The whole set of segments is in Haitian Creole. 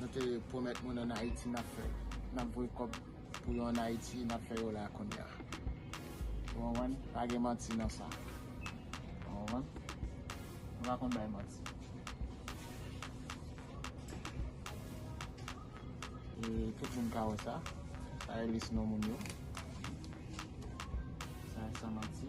Nou te pwomèt moun an Ayiti n ap fè, n ap voye kòb pou yo an Ayiti, n ap fè yo la a kounye a. Ou konprann? Pa gen manti nan sa. Ou konprann? Nou pa konn bay manti. E tout moun ka wè sa. Sa e lis non moun yo. Sa e san manti.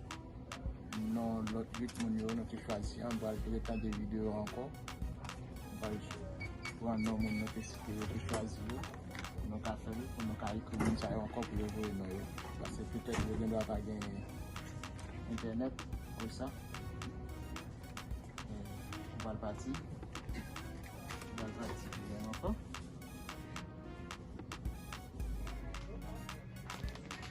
Non lòt 8 moun yo nou te chwazi an pral retande video yo ankò nou pral pran non moun nou te site yo te chwazi yo pou nou ka fèl pou nou ka ekri moun sa yo ankò pou yo voye non yo pase petèt yo gendwa pa gen entènèt pou sa nou pral pati nou pral pati pou gen ankò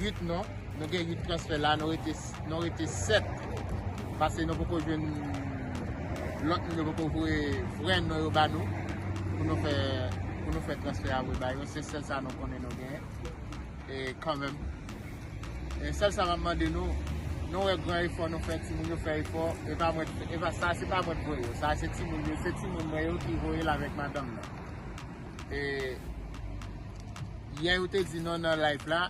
8 non, nou gen 8 transfè la, nou rete 7, pase nou poko jwen lòt moun yo poko vwe frè nou yo ba nou, pou nou fè transfè a vwe ba yo, se sèl sa nou konnen nou gen, e kanmèm, e sèl sa mèm mande nou, nou wè gran efò nou fè, ti moun yo fè efò, e pa mwen, e pa sa, se pa mwen vwe yo, sa se ti moun yo, se ti moun mwen yo ki vwe yo la vek madanm nan. Yè yo te di nou nan live la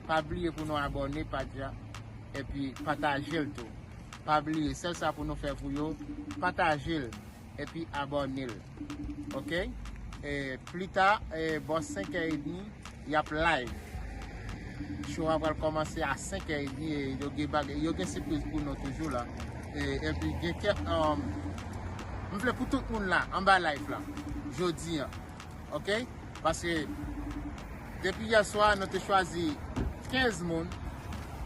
Pa bliye pou nou abòne paj la Epi patajel tou Pa bliye sèl sa pou nou fè pou yo Patajel epi abònel Ok Plita bò 5 è edmi Yap live. Show a pral komanse a 5 è edmi e yo gen bagay, yo gen sipriz pou nou toujou la. E epi gen kèk um, m vle pou tout moun la anba live la jodi an. Ok? Paske depi yè swa nou te chwazi 15 moun,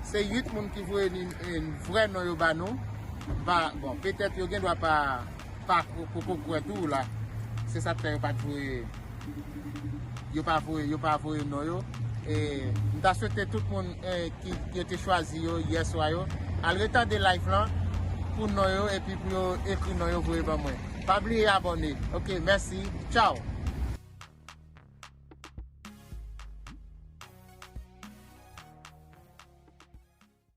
se 8 moun ki voye ni vrè non yo ba nou. Bon, petèt yo gen dwa pa pa poko kwè tou la se sak fè yo pat voye yo pa voye yo pa voye non yo m ta swete tout moun ki yo te chwazi yo yè swa yo al retande live lan pou non yo epi pou yo ekri non yo voye ban mwen pa bliye abòne ok mèsi tchaww.